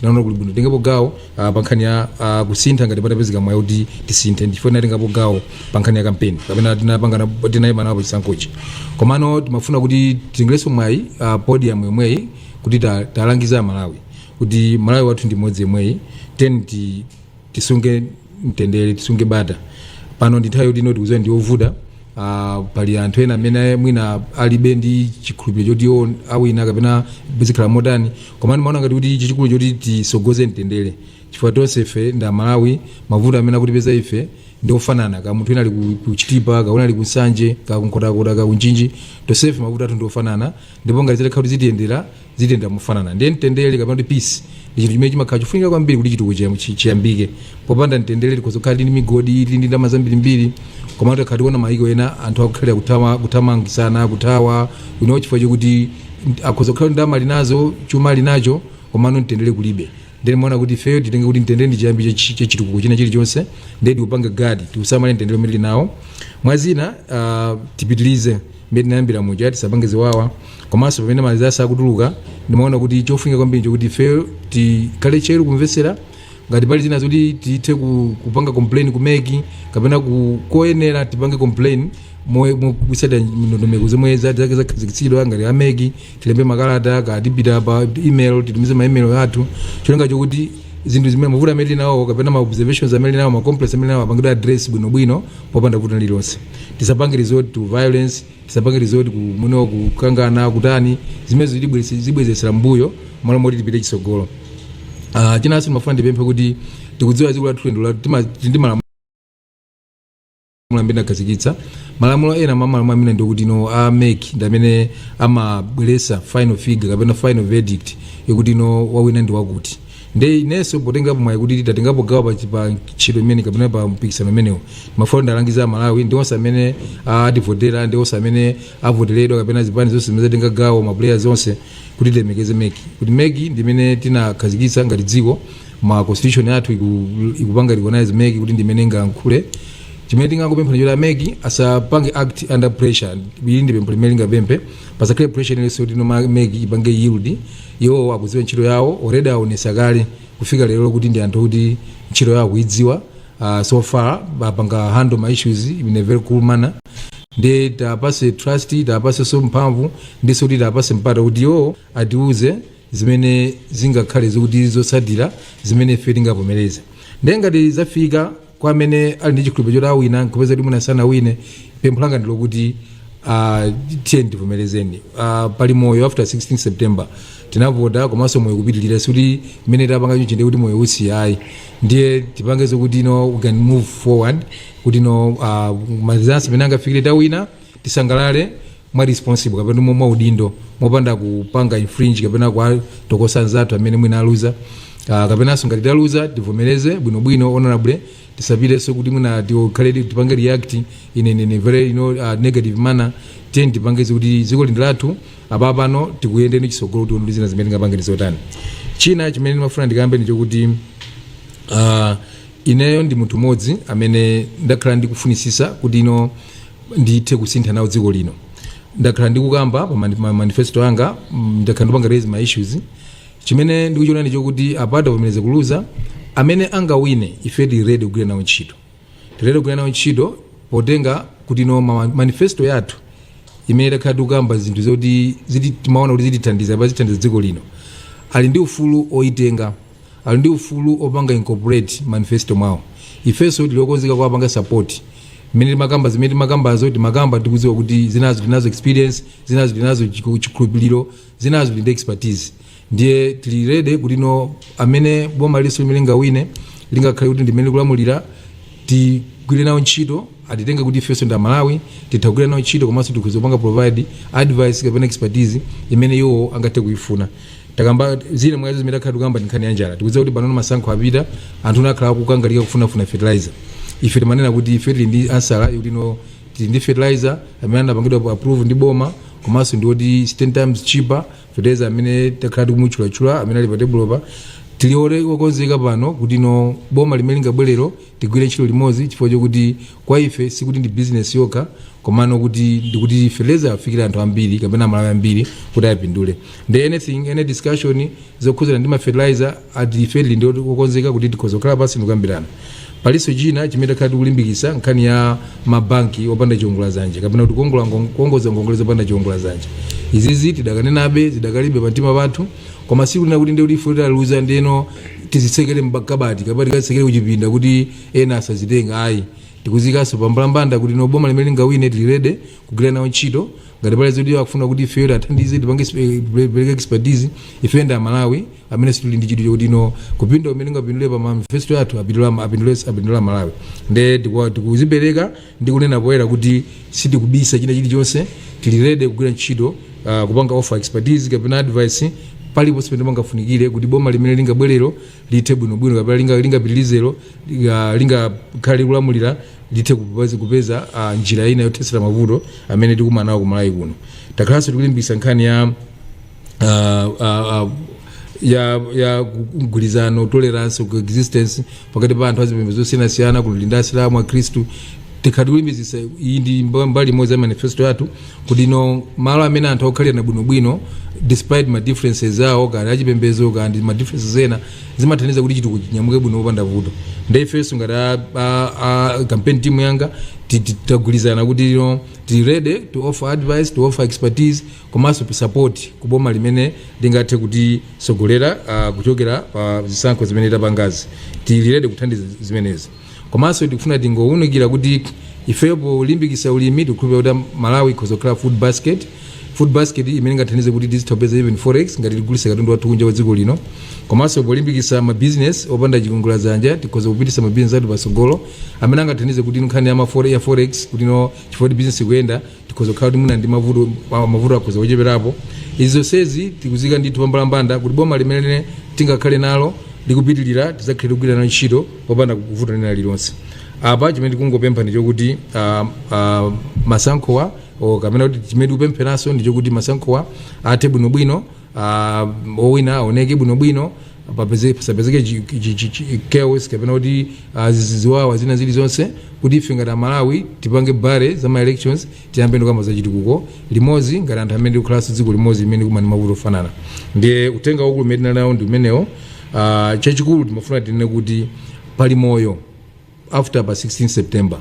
tinaona kuli bwino titengepo gawo ah, pa nkhani ya ah, kusintha ngati patapezeka mwayi kuti tisinthe ndichifukwa tinatengapo gawo pa nkhani ya kampeni kapena tinapangana tinayima nawo pa chisankhochi komano timafuna kuti titengerenso mwayi ah, podium yomweyi kuti ta- talangiza amalawi kuti malawi wathu ndi mmodzi yemweyi tenti tisunge mtendere tisunge bata pano ndi nthawi yoti no tikuziwa ndi yovuta uh, pali anthu ena amene mwina alibe ndi chikhulupiriro choti iwo awina kapena zikhala motani komano ndimaona ngati kuti chachikulu n'choti tisogoze mtendere chifukwa tonse ife ndi amalawi mavuto amene akutipeza ife ndi ofanana kaya munthu wina ali ku- ku chitipa kaya wina ali ku nsanje kaya ku nkhotakota kaya ku mchinji tonse ife mavuto athu ndi ofanana ndipo ngati zitakhala kuti zitiyendera zitiyendera mofanana ndiye mtendere kapena kuti peace ndi chinthu chimene chimakhala chofunika kwambiri kuti chitukuko chiyam- chi- chiyambike popanda mtendere tikhoza kukhala ndi migodi ili ndi ndalama zambirimbiri koma tikati kuona mayiko ena anthu akukhalira kutama- kuthamangisana kuthawa winawo chifukwa chokuti nt- akhoza kukhala ndalama ali nazo chuma ali nacho komano mtendere kulibe ndiye ndimaona kuti ifeyo titenge kuti mtendere ndi chiyambi cha chi- cha chitukuko china chilichonse ndiye tiupange gadi tiusamale mtendere umene tili nawo mwa zina ah, tipitirize mmene tinayambira muja tisapange ziwawa komanso pamene ma results akutuluka ndimaona kuti chofunika kwambiri n'chokuti ifeyo tikhale tcheru kumvetsera ngati pali zina zoti tithe ku- kupanga complain ku meki kapena ku- koyenera tipange complain motsata ndondomeko zomwe za- zake zakhazikitsidwa ngati ameki tilembe makalata kaya tipita pa email titumize ma email athu cholinga chokuti zinthu zimene mavuto amene tinawo kapena ma observations amene tinawo ma complaints amene tinawo apangidwe address bwino bwino popanda vuto lililonse tisapange resort to violence tisapange resort ku kumenyana kukangana kutani zimene zitibweretse- zibwezetsera mbuyo malo moti tipite chitsogolo Ah, chinanso timafuna tipemphe kuti tikudziwa dziko lathu limayenda ndi malamulo malamulo amene akhazikitsa malamulo ena mwa malamulo amenewo ndi okuti no a mec ndi amene amabweresa final figure kapena final verdict yokuti no wawina ndi wakuti nde inenso potengapo mwayi kuti tatengapo gawo pa chi- pa ntchito imene kapena pa mpikisano umenewo mafuna ndalangiza amalawi ndi onse amene ativotera ndi onse amene avoteredwa kapena zipani zonse zimene zatenga gawo mapuleyers onse kuti tilemekeze mec kuti mec ndi imene tinakhazikitsa ngati dziko constitution yathu iku- ikupanga recognize mec kuti ndi imene ingalankhule chimene tingangopempha ndi choti ameki asapange act under pressure ili ndi pempho limene tingapemphe pasakhale pressure iliyonse kuti no meki ipange yield iwowo akudziwa ntchito yawo already aonesa kale kufika lero kuti ndi anthu oti ntchito yawo akuidziwa uh, so far apanga handle ma issues in a very cool manner Nde tiapase trust, tiapasenso mphamvu ndinso kuti tiapase mpata kuti iwo atiuze zimene zingakhale zokuti zotsatira zimene ife tingavomereze. Nde ngati zafika kwa amene ali ndi chikhulupiro choti awina nkupeza kuti mwina sanawine, pempho langa ndilokuti aah tiyeni tivomerezeni. Aah pali moyo after 16 September. Tinavota komanso moyo ukupitilira sikuti mmene tapanga chonchi ndekuti moyo usiya ayi. Ndiye tipange zokuti no we can move forward. kuti no uh, ma results pamene angafikire tawina tisangalale mwa responsible kapena mwa mwa udindo mopanda kupanga infringe kapena kuwatokosa anzathu amene mwina aluza uh, kapenanso ngati taluza tivomereze bwinobwino honorably tisapitenso kuti mwina tikhale tipange react in, in, in a very you know, uh, negative manner tiye tipange zokuti dziko lino ndi lathu apa pano tikuyenda ndi chisogolo tione kuti zina zimene tingapange ndizotani china chimene ndimafuna ndikambe ndichokuti uh, Ineyo ndi munthu modzi amene ndakhala ndikufunisisa kuti no ndithe kusintha nawo dziko lino. Ndakhala ndikukamba pa mani- ma manifesto anga, mm, ndakhala ndipanga raise ma issues. Chimene ndikuchiona ndi chokuti apa tavomereza kuluza amene angawine ife tili ready kugwira nawo ntchito. Tili ready kugwira nawo ntchito potenga kuti no ma manifesto yathu imene takhala tikukamba zinthu zoti ziti timaona kuti zitithandiza kapena zithandiza dziko lino. Ali ndi ufulu oyitenga Ali ndi ufulu opanga incorporate manifesto mwao. Ifeso tili okonzeka kuwapanga support. Mmene timakamba zimene timakambazo timakamba tikudziwa kuti zinazo tili nazo experience, zinazo tili nazo chiku- chikhulupiliro, zinazo tili ndi expertise. Ndiye tili ready kuti no amene boma ilo limene lingawine lingakhale kuti ndimene likulamulira tigwire nawo ntchito atitenge kuti ifeso ndi amalawi titha kugwira nawo ntchito komanso tikhoza kupanga provide advice kapena expertise imene iwo angathe kuifuna takamba zina mwa izo zimene takhala tikukamba ndi nkhani ya njala tikudziwa kuti panopo masankho apita anthu akhala akukangalika kufunafuna fertilizer ife timanena kuti ife tili ndi answer kuti no tili ndi fertilizer amene anapangidwa approve ndi boma komanso ndi oti 10 times cheaper fertilizer amene takhala tikumutchulatchula amene ali pa tebulopa tili ore- okonzeka pano kuti no boma limene lingabwerero Tigwire ntchito limodzi chifukwa chokuti kwa ife sikuti ndi business yokha komano kuti ndikuti fertilizer afikire anthu ambiri kapena amalawi ambiri kuti apindule ndi anything any discussion zokhudzana ndi ma fertilizer athu ife tili okonzeka kuti tikhoza kukhala pansi ndikukambirana palinso china chimene takhala tikulimbikitsa nkhani ya mabanki opanda chiwongola zanja kapena kuti kuongola ngon- kuongoza ngongole zopanda chiwongola zanja izizi tidakanenabe zidakalibe pamtima pathu koma sikunena kuti ndiye kuti ife taluza ndeno tizitsekere m'makabati kapena tikazitsekere kuchipinda kuti ena asazitenge ayi tikuziikanso pambalambanda kuti no boma limene lingawine tili ready kugwira nawo ntchito ngati pali zoti akufuna kuti ifeyo tiathandize tipange exp- tipereke expertise ifeyo ndi amalawi amene sitili ndi chidwi chokuti no kupindula kumene tingapindule pa manifesto athu apindula apindule apindula amalawi nde tikuwa- tikuzipereka Ndikunena poyera kuti sitikubisa china chilichonse, tili ready kugwira ntchito, kupanga offer expertise kapena advice paliponse pamene pangafunikire kuti boma limene lingabwerelo lithe bwinobwino kapena lingapitilirelo, lingakhale likulamulira lithe kupeza njira ina yothetsera mavuto amene tikukumana nawo ku Malawi kuno. Takhalanso tikulimbikitsa nkhani ya mgwirizano, tolerance, coexistence pakati pa anthu azipembedzo zosiyanasiyana kuli Asilamu akhristu takhala tikulimbikitsa iyi ndi mba- mbali imodzi ya manifesto yathu kuti no malo amene anthu akukhalirana bwinobwino despite ma differences awo kaya achipembedzo kaya ndi ma differences ena zimathandiza kuti chitukuko chinyamuke bwino popanda vuto nde ifenso ngati a- a- a campaign team yanga ti- ti- tagwirizana kuti no tili ready to offer advice to offer expertise komanso support ku boma limene lingathe kutisogolera uh, kuchokera pa uh, zisankho zimene tapangazi tili ready kuthandiza zimenezi komanso tikufuna tingowunikira kuti ifeyo polimbikisa ulimi tikukhulupirira kuti malawi ikhoza kukhala food basket food basket imene ingathandize kuti tizitha kupeza even forex ngati tigulisa katundu wathu kunja kwa dziko lino komanso polimbikisa mabizinesi opanda chiwongola dzanja tikhoza kupitisa mabizinesi athu patsogolo amene angathandize kuti nkhani ya forex kuti no chifukwa choti bizinesi ikuyenda tikhoza kukhala kuti mwina ndi mavuto ma- mavuto akhoza kucheperapo izi zonsezi tikuziika ndithu pambalambanda kuti boma limene tingakhale nalo likupitirira tidzakhale tikugwira nalo ntchito popanda vuto lina lililonse apa chimene tikungopempha ndi chokuti ah, ah, masankhowa o kapena kuti chimene tikupempheranso ndi chokuti masankhowa athe bwinobwino uh, owina aoneke bwinobwino papeze- pasapezeke chi- chi- chi- chi- chaos kapena kuti uh, zizi- ziwawa zina zilizonse kuti ife ngati amalawi tipange bury za ma elections tiyambe tizikamba za chitukuko limodzi ngati anthu amene tikukhalanso dziko limodzi limene tikukumana ndi mavuto ofanana ndiye uthenga waukulu umene tinali nawo ndi umenewo uh, chachikulu timafuna tinene kuti pali moyo after pa 16 september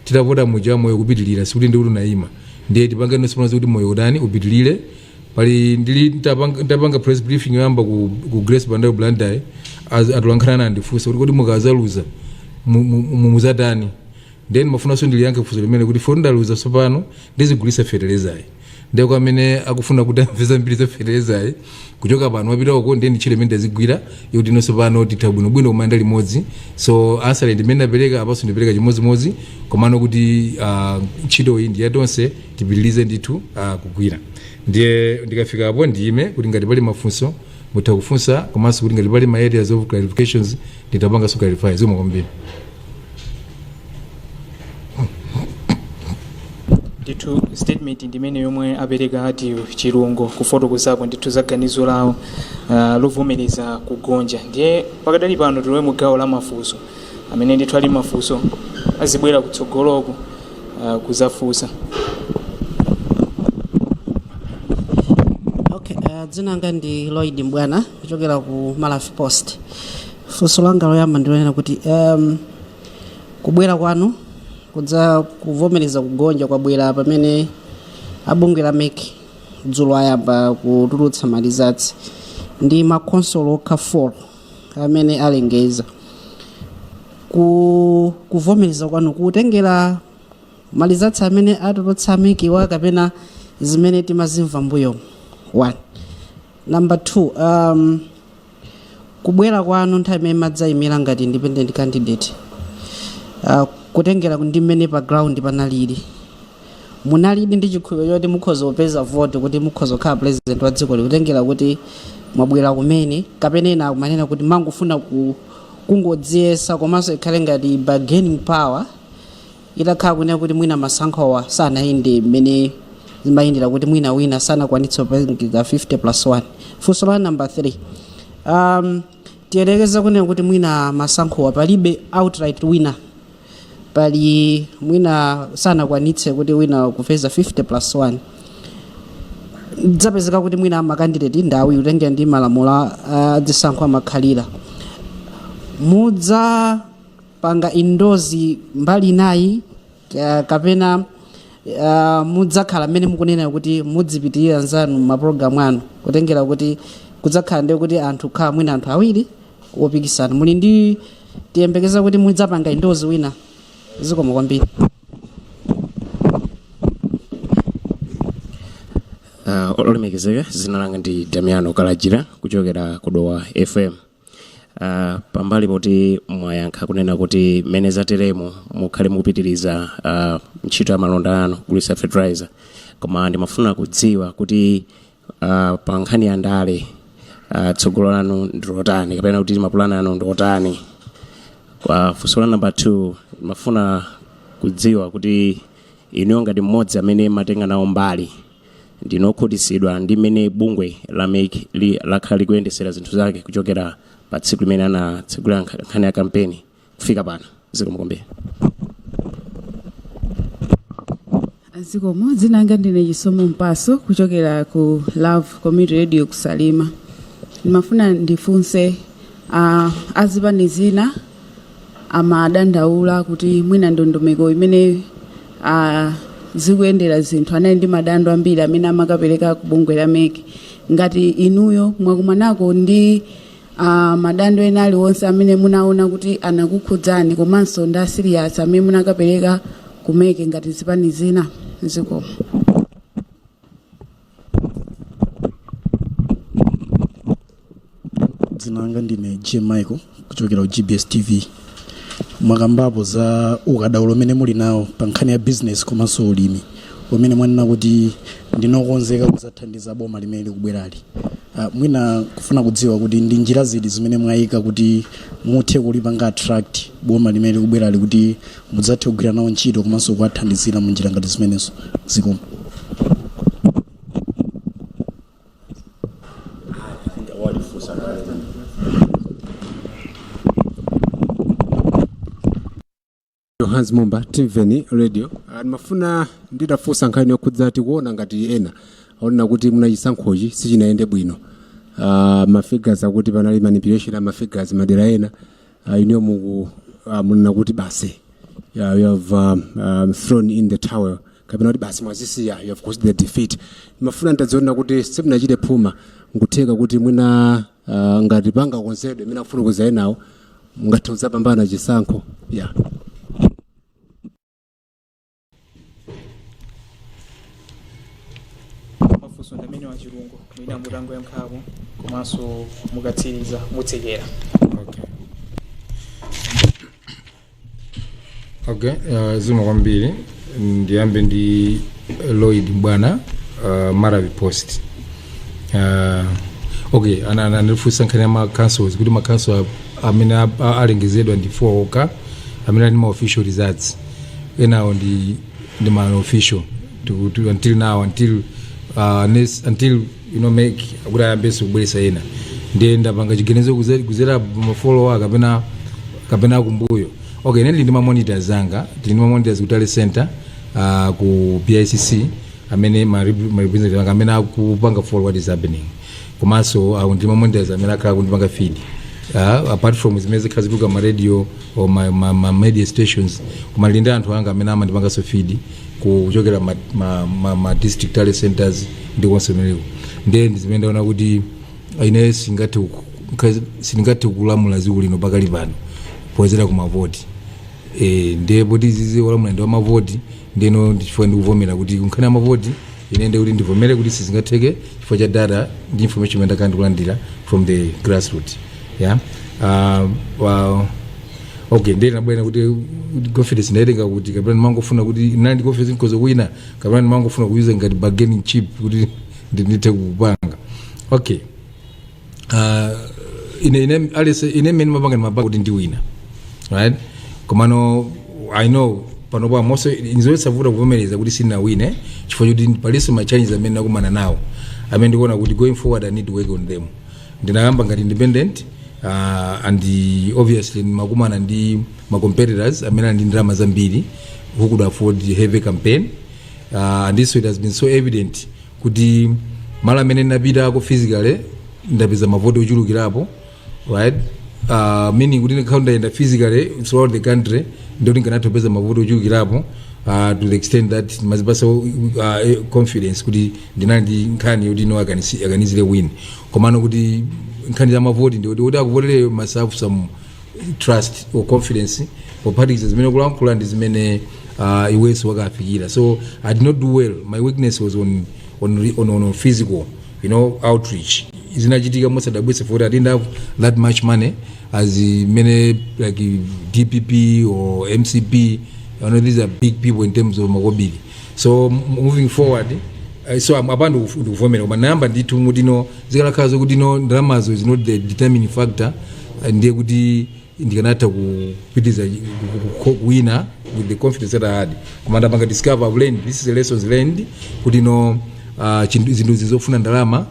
titavota muja moyo ukupitilira sikuti ndikuti unayima ndiye tipange zonse pano kuti moyo utani upitilire pali ndili ntapanga ntapanga press briefing yoyamba ku, ku grace Bandawe Blantyre atolankhani anandifunsa kuti kodi mukazaluza mu- mu- mu- muzatani then ndimafunanso ndiliyankhe funso limenelo kuti poti ndaluza tsopano ndizigulisa feteleza Ndiye kwa amene akufuna kuti amve zambiri za feteleza, kuchoka pano wapita uko ndiye ndi ntchito imene ndizigwira yoti inonso pano titha bwinobwino kumayenda limodzi. So answer imene ndapereka apanso ndipereka chimodzimodzi komano kuti ah, ntchitoyi ndi ya tonse tipitirize ndithu ah, kugwira. Ndiye ndikafika apo ndiyime kuti ngati pali mafunso mutha kufunsa komanso kuti ngati pali ma areas of clarifications nditha kupanganso clarify zikomo kwambiri. ndithu statement ndimene yomwe apereka ati Chilungo kufotokozapo ndithu za ganizo lawo uh, lovomereza kugonja ndiye pakadali pano tilowe mu gawo la mafunso amene ndithu ali ndi mafunso azibwera kutsogoloku uh, kuzafunsa okay uh, dzina langa ndi lloyd mbwana kuchokera ku malawi post funso langa loyamba ndilonena kuti um, kubwera kwanu kudza kuvomereza kugonja kwabwera pamene abungwe la mec dzulo ayamba kutulutsa malizatsi ndi makonsolo okha 4 amene alengeza ku kuvomereza kwanu kutengera malizatsi amene atulutsa MECwa kapena zimene timazimva mbuyo one Number 2, um, kubwera kwanu nthawi imene madzayimira ngati independent candidate uh, kutengera ndi mmene pa ground panalili munalidi ndi chikhulupiriro choti mukhoza kupeza vote kuti mukhoza kukhala president wa dzikoli kutengera kuti mwabwera kumene kapena ena akumanena kuti mangofuna ku kungodziyesa komanso ikhale ngati bargaining power Itakhala kunena kuti mwina masankhowa sanayende mmene zimayendera kuti mwina wina sanakwanitse kupeza 50 plus 1. Funso la number 3. Um, tiyerekeze kunena kuti mwina masankhowa palibe outright winner. Pali mwina sanakwanitse kuti wina kupeza 50 plus 1. Zapezeka kuti mwina makandidate ndi awiri kutengera ndi malamulo a a zisankho amakhalira. Mudza panga endorse mbali inayi ka- kapena uh, mudzakhala mmene mukunena kuti mudzipitiriza mapulogalamu anu kutengera kuti kudzakhala ndi kuti anthu khala mwina anthu awiri opikisana muli ndi tiyembekeza kuti mudzapanga endorse wina zikomo kwambiri uh, olemekezeka zina langa ndi damiano kalajira kuchokera ku Dowa fm Uh, pambali poti mwayankha kunena kuti mmene zateremo mukhale mukupitiriza uh, ntchito ya malonda anu kugulitsa fertilizer koma ndimafuna kudziwa kuti uh, pa nkhani ya ndale uh, tsogolo lanu ndilotani kapena kuti mapulani anu ndiotani kwa funso la namba 2 ndimafuna kudziwa kuti inuyo ngati mmodzi amene matenga nawo mbali ndinu okhutitsidwa ndi mmene bungwe la mec li lakhala likuyendesera zinthu zake kuchokera pa tsiku limene anatsegulira nkha- nkhani ya kampeni kufika pano. Zikomo kwambiri. zikomo dzina langa ndine chisomo mpaso kuchokera ku love community radio ku Salima ndimafuna ndifunse uh, azipani zina amadandaula kuti mwina ndondomeko imene zikuyendera zinthu anali ndi madando ambiri amene amakapereka ku bungwe la mec ngati inuyo mwakumanako ndi madando ena aliwonse amene munaona kuti anakukhudzani komanso ndi asiriyasi amene munakapereka ku mec ngati zipani zina zikomo dzina langa ndine jim michael kuchokera ku gbs tv mwakambapo za ukadaulo umene muli nawo pa nkhani ya business komanso ulimi umene mwanena kuti ndinokonzeka kuzathandiza boma limene likubwerali uh, mwina kufuna kudziwa kuti ndi njira ziti zimene mwayika kuti muthe kulipanga attract boma limene likubwerali kuti mudzathe kugwira nawo ntchito komanso kuwathandizira mu njira ngati zimenezo zikomo johannes mumbe timveni radio Ah, ndimafuna nditafunsa nkhani yokhudza tikuona ngati ena akunena kuti mwina chisankhochi sichinayende bwino Ah, mafigures akuti panali manipulation a mafigures madera ena Uh, inuyo muku uh, munena kuti basi uh, you have um, um, thrown in the towel kapena kuti basi mwazisiya you have conceded defeat ndimafuna nditadziwa kuti simunachite phuma nkutheka kuti mwina uh, ngati panga konzedwe imene akufuna kuzaye nawo mungathe kudzapambana chisankho yeah mafunso ndi amenewa chilungu mwina mutango yankhapo komanso mukatsiriza mutsekera Okay. Okay, uh, zikomo kwambiri ndiyambe ndi Lloyd Mbwana uh, Maravi Post. Uh, okay, ana anandifunsa nkhani ya ma councils kuti ma council amene a- a- alengezedwa ndi 4 oka amene ali ma official results. enawo ndi ndi ma unofficial to, to, until now until uh, next, until you know mec kuti ayambenso kubweresa ena ndiye ndapanga chiganizo kuze- kuzera mafolowa kapena kapena kumbuyo okay ndili ndi mamonitors anga tili ndi mamonitors ku tally center uh, ku bicc amene ma rep- ma representative anga amene akupanga follow what is happening komanso ndili ndi mamonitors amene akhala akundipanga feed uh, apart from zimene zikhala zikutuluka ma radio or ma, ma, ma media stations koma ndili ndi anthu anga amene amandipanganso feed kuchokera ma, ma, ma, ma district tally centers ndi konse kumeneko ndiye ndi zimene ndaona kuti ine singathe ku- nka- sindingathe kulamula dziko lino pakali pano potengera kumavoti eh, ndiye poti zizi wolamula ndi wamavoti ndeno ndichifukwa ndikuvomera kuti kunkhani ya mavoti Ine ndiye kuti ndivomere kuti sizingatheke chifukwa cha data ndi information imene ndakhala ndikulandira from the grassroot yeah uh, well, okay ndiye mabwera kuti kuti confidence ndaitenga kuti kapena ndimangofuna kuti ndinali ndi confidence because kwina kapena ndimangofuna kuuser ngati bargaining chip kuti ndi- ndithe kupanga okay uh, ine ine at least ine mmene ndimapanga ndimapanga kuti ndiwina right komano i know pano pa mostly ndizosavuta kuvomereza kuti sinawine chifukwa choti palinso ma challenges amene nakumana nawo amene ndikuona kuti going forward i need to work on them ndinayamba ngati independent uh, and uh, obviously ndimakumana ndi ma competitors amene ali ndi ndalama zambiri who could afford heavy campaign uh, and this it has been so evident kuti malo amene ndinapitako physically ndapeza mavoti ochulukirapo right uh, meaning kuti ndikanakhala ndayenda physically throughout the country ndiye kuti nkanatha kupeza mavoti ochulukirapo uh, to the extent that ndimazipasa uh, confidence kuti ndinali ndi nkhani yoti no akanisi- akanizire win komano kuti nkhani za mavoti ndiye kuti akuvoteleyo masafu samu trust or confidence pophatikiza zimene ukulankhula ndi zimene uh, iwenso wakafikira so i did not do well my weakness was on, on, re- on, on, on physical you know outreach zinachitika mosadabwitsa for i didn't have that much money as many like dpp or mcp you know, these are big people in terms of makobiri so moving forward eh, so am- apa ndikuf- ndikuvomera koma nayamba ndithu mmuti no zikanakhala zokuti no ndalamazo is not the determining factor eh, ndiye kuti ndikanatha kupitiza kuwina with the confidence that i had koma ndapanga discover I've learned this is the lessons learned kuti no ah, chinthu- zinthuzi zofuna ndalama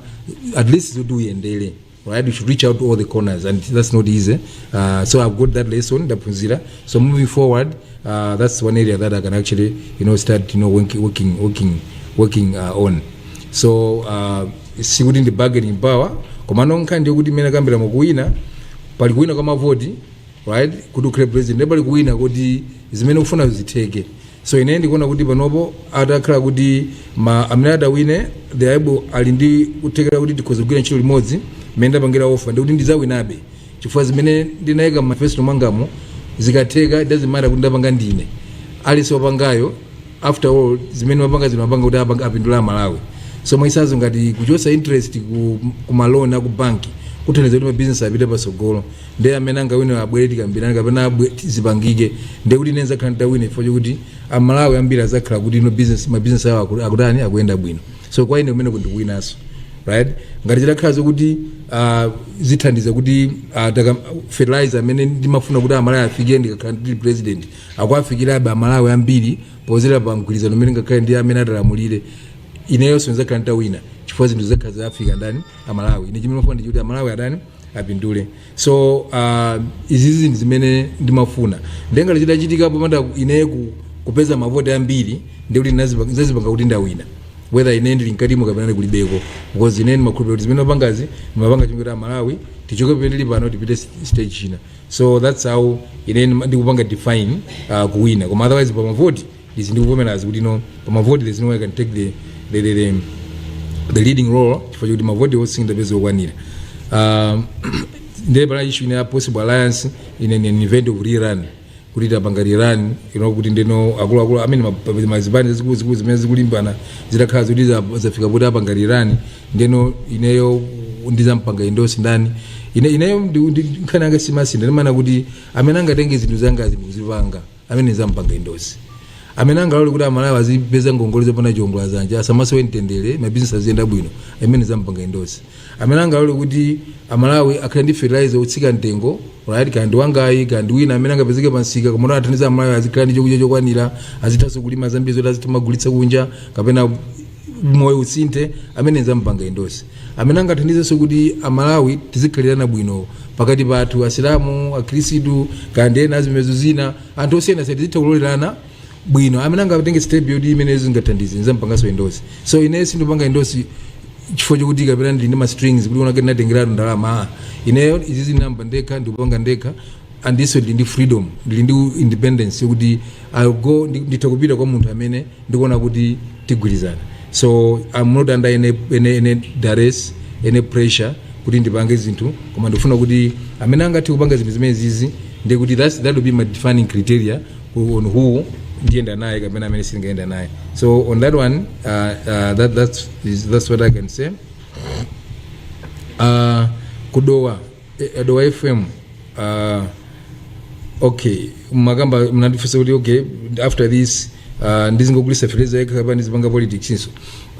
at least zoti uyendere right? You should reach out to all the corners, and that's not easy. Uh, so I've got that lesson, ndaphunzira. So moving forward, uh, that's one area that I can actually, you know, start, you know, working, working, working, working uh, on. So uh, sikuti ndi bargaining power, komano nkhani ndi yokuti mmene nakambira mukuwina, pali kuwina kwa mavoti, right? Kuti ukhale president, ndipo pali kuwina kuti zimene ukufuna zitheke. So ine ndikuona kuti panopo atakhala kuti ma amene atawine they are able ali ndi kuthekera kuti tikhoza kugwira ntchito limodzi mmene ndapangira offer ndiye kuti ndidzawinabe chifukwa zimene ndinayika mu manifesto mwangamo zikatheka it doesn't matter kuti ndapanga ndine aliyense wapangayo after all zimene ndimapanga zino ndimapanga kuti apanga- apindula amalawi so mwachitsanzo ngati kuchotsa interest ku, ku ma loan aku banki kuthandiza kuti mabizinesi apite patsogolo Nde amene angawine abwere tikambilane kapena abwe- zipangike nde kuti ine nzakhala nditawina chifukwa chokuti a Malawi ambiri azakhala kuti no business ma business awo aku- akutani akuyenda bwino so kwa ine kumeneko ndi kuwinaso right ngati zitakhala zokuti uh, zithandiza kuti uh, fertilizer amene ndimafuna kuti amalawi afike ndikakhala ndili president akuafikirabe amalawi ambiri podzera pa mgwirizano umene ngakhale ndi amene atalamulire ineyonso ndizakhala nditawina chifukwa zinthu zakhala zawafika ndani amalawi ine chimene ndimafuna ndi chokuti amalawi atani apindule so uh, izizi ndi zimene ndimafuna nde ngati chitachitika popanda ine ku, kupeza mavoti ambiri ndiye kuti ndinazipanga kuti ndawina whether ine ndili mkatimo kapena ndikulibeko because ine ndimakhulupirira kuti zimene ndimapangazi ndimapanga cholinga choti amalawi tichoke pamene tili pano tipite s- stage china so that's how ine ndima- ndikupanga define uh, kuwina koma otherwise pa mavoti izi ndikuvomerazi kuti no pamavoti there's no way I can take the, the, the, the, the leading role chifukwa choti mavoti onse sindapeze okwanira um, ndiye pana issue ine ya possible alliance in in an event of rerun kuti tapanga rerun you know kuti ndeno akuluakulu amene ma- mazipani zazikulu zimene zikulimbana zitakhala zoti za- zafika poti apanga rerun ndeno ineyo ndizampanga endorse ndani ine ineyo ndi- ndi- nkhani yanga simasintha ndimanena kuti amene angatenge zinthu zangazi nkuzipanga amene zampanga endorse amene angalole kuti amalawi azipeza ngongole zopanda chiwongola zanja asamasowe mtendere mabizinesi aziyenda bwino amene zampanga endorse amene angalole kuti amalawi akhale ndi fertilizer otsika mtengo right kaya ndi wangayi kaya ndi wina amene angapezeke pamsika koma athandiza amalawi azikhala ndi chokudya chokwanira azithanso kulima zambiri zoti azitha kumagulitsa kunja kapena moyo usinthe amene zampanga endorse amene angathandizenso kuti amalawi tizikhalirana bwino pakati pathu asilamu akhristu kaya ndi ena azipembedzo zina anthu osiyanasiyana tizitha kulolerana bwino amene angatenge step yoti imene zingathandize nizampanganso endorse so ine sindipanga endorse chifukwa chokuti kapena ndili ndi ma strings kuti unake ndinatengeratu ndalama ah. ineyo izizi ndinayamba ndekha ndikupanga ndekha andinso ndili ndi freedom ndili ndi independence yokuti I'll go ndi- nditha kupita kwa munthu amene ndikuona kuti tigwirizana so I'm not under any, any, any duress any pressure kuti ndipange zinthu koma ndikufuna kuti amene angathe kupanga zinthu zimenezizi ndiye kuti that's- that will be my defining criteria on who ndiyenda naye kapena amene sindingayenda naye so on that one uh, uh, that, that's, is, that's what i can say uh, kudowa eh, dowa fm uh, okay makamba mnandifunsa kuti okay after this uh, ndizingogulisa fertilizer yekha kapena ndizipanga politics so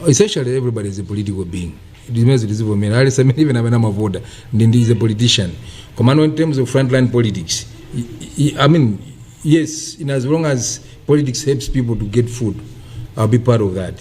essentially everybody is a political being zimenezo tizivomera aliyense amene even amene amavota ndi ndi is a politician komano in terms of frontline politics i, i, i mean yes in as long as politics helps people to get food i'll be part of that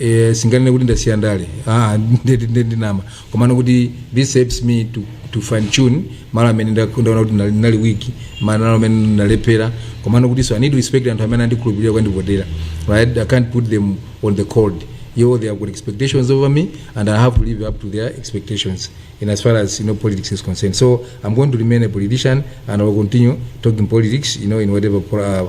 Eh, singanene kuti ndasiya ndale ah, nde kuti nde kuti ndinama komano kuti this helps me to, to fine tune malo amene ndak- ndaona kuti ndinali- ndinali weak malo amene ndinalephera komano kuti so i need to respect anthu amene andikhulupirira kwandivotera right i can't put them on the cold you know they have got expectations over me and i have to live up to their expectations in as far as you know politics is concerned so i'm going to remain a politician and i will continue talking politics you know in whatever pro- uh,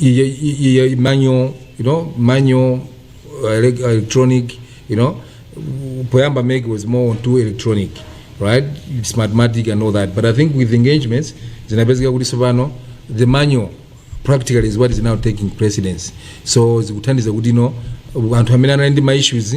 iye- iye- iye- manual you know manual uh, elec- electronic you know poyamba MEC was more on to electronic right smartmatic and all that but i think with engagements zinapezeka kuti tsopano the manual practically is what is now taking precedence so zikuthandiza kuti no anthu amene anali ndi ma issues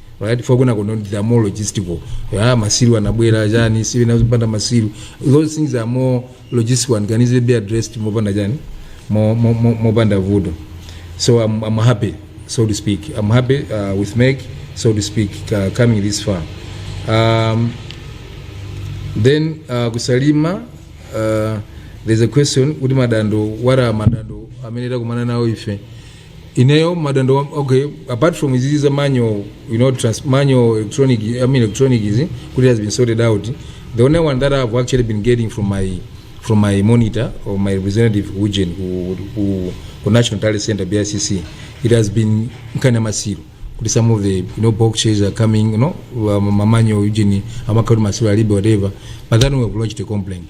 right for kuna kono there are more logistical ah masiru anabwera chani siwe nazo panda masiru those things are more logistical and can easily be addressed mopanda chani mo- mo- mo- mopanda vuto so I'm, I'm happy so to speak I'm happy uh, with Meg so to speak uh, coming this far um, then uh, kusalima uh, there's a question kuti madando wara madando amene takumana nawo ife ineyo madando wa- okay apart from izizi za manual you know trans, manual electronic i mean electronic izi kuti has been sorted out the only one that i've actually been getting from my from my monitor or my representative ku ujen ku, ku, ku national talent center bicc it has been nkhani ya masiro kuti some of the you know boxes are coming you know mamanyo ujen amakhala kuti masiro alibe whatever but then we have lodged a complaint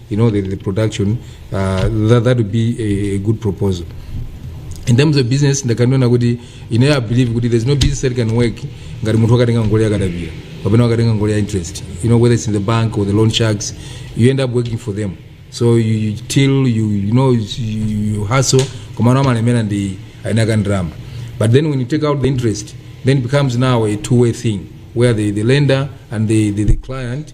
you know, the, the production, uh, that, that would be a, a good proposal. In terms of business, ndakaniona kuti ine I believe kuti there's no business that can work ngati munthu wakatenga ngoli yakadabira kapena wakatenga ngoli ya interest you know whether it's in the bank or the loan sharks you end up working for them so you, you till you, you know you, you hustle komano amalemera ndi ainaka ndrama but then when you take out the interest then it becomes now a two-way thing where the, the lender and the, the, the client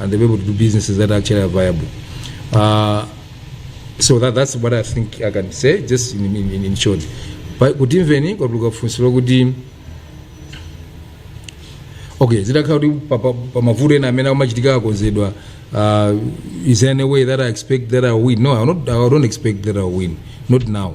and they'll be able to do businesses that actually are viable. Uh, so that, that's what I think I can say, just in, in, in- in short. But kutinso mwina kwatuluka funso lakuti okay zitakhala kuti pa- pa- pamavuto ena amene amachitika akonzedwa uh, is there any way that i expect that i win no I, not, I don't expect that i win not now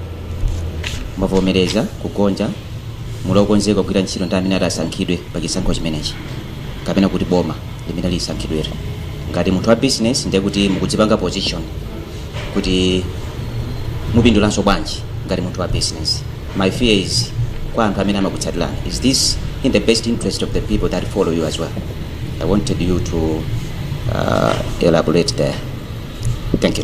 mwavomereza kugonja muli okonzeka kugwira ntchito ndi amene ati asankhidwe pa chisankho chimenechi kapena kuti boma limene lisankhidwere ngati munthu wa business ndiye kuti mukudzipanga position kuti mupindulanso bwanji ngati munthu wa business my fear is kwa anthu amene amakutsatirani is this in the best interest of the people that follow you as well i wanted you to uh, elaborate there thank you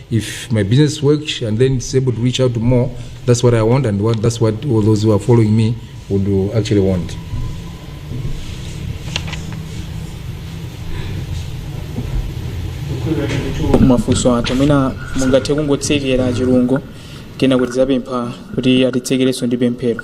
If my business works and then it's able to reach out to more, that's what I want and what, that's what all those who are following me would uh, actually want. mafunso anthu amene mungathe kungotsekera chilungamo kenako tidzapempha kuti atitsekerenso ndi pemphero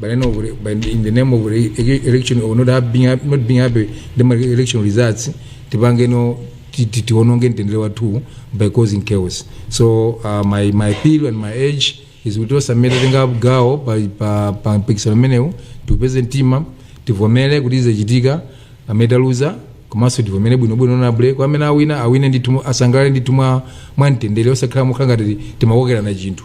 But in the, but in the name of re- ele- election or not have- being happy, not being happy with the election results, tipange no ti- ti- tiononge mtendere wathu by causing chaos. So uh, my my appeal and my urge is kuti tonse amene tatenga gawo pa pa pa mpikisano umenewu tipeze mtima tivomere kuti zachitika amene taluza komanso tivomere bwinobwino ndipo kwa amene awina awine ndithu asangalale ndithu mwa mwa mtendere osakhala mokhala ngati timakokerana chinthu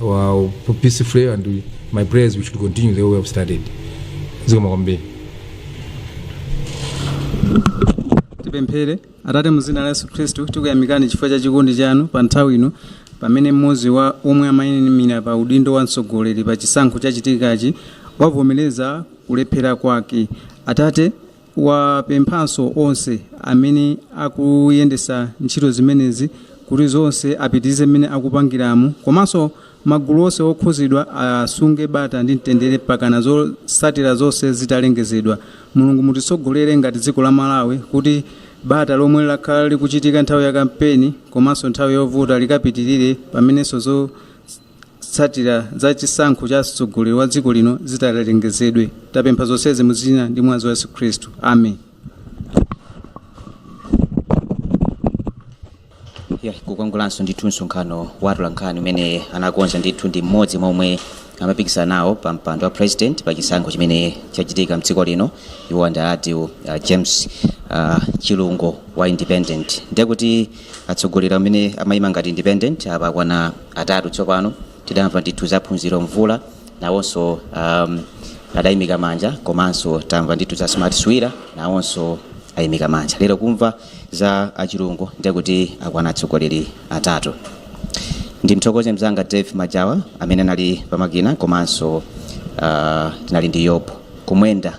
far, peacefully and we, my prayer is we should continue the way we have started. Zikomo kwambiri. tipemphere atate mu dzina la yesu khristu tikuyamikani chifukwa cha chikondi chanu pa nthawi ino pamene mmodzi wa omwe amaimira pa udindo wa mtsogoleri pa chisankho chachitikachi wavomereza kulephera kwake atate wapemphanso onse amene akuyendesa ntchito zimenezi kuti zonse apitilize mmene akupangiramo komanso magulu onse okhuzidwa asunge bata ndi mtendere mpakana zotsatira zonse zitalengezedwa. Mulungu mutitsogolere ngati dziko la Malawi kuti bata lomwe lakhala likuchitika nthawi ya kampeni komanso nthawi yovota likapitilire pamenenso zo. Zotsatira za chisankho cha mtsogoleri wa dziko lino zitalengezedwe, tapempha zonsezi mu dzina ndi mwazi wa Yesu Khristu. Amen. Yeah, kumeneko kunali ndithu msonkhano wa atolankhani umene anakonza ndithu ndi mmodzi mwa omwe amapikisana nawo pa mpando wa president pa chisankho chimene chachitika mdziko lino iwo ndi a uh, James uh, Chilungu wa Independent ndiye kuti atsogoleri amene amayima ngati independent apa akwana atatu tsopano tidamva ndithu za phunziro mvula nawonso um, adayimika manja komanso tamva ndithu za smart swira nawonso ayimika manja lero kumva za a chilungu ndiye kuti akwana atsogoleri atatu ndimthokoze mzanga dave majawa amene anali pamakina komanso uh, tinali ndi yobu kumwenda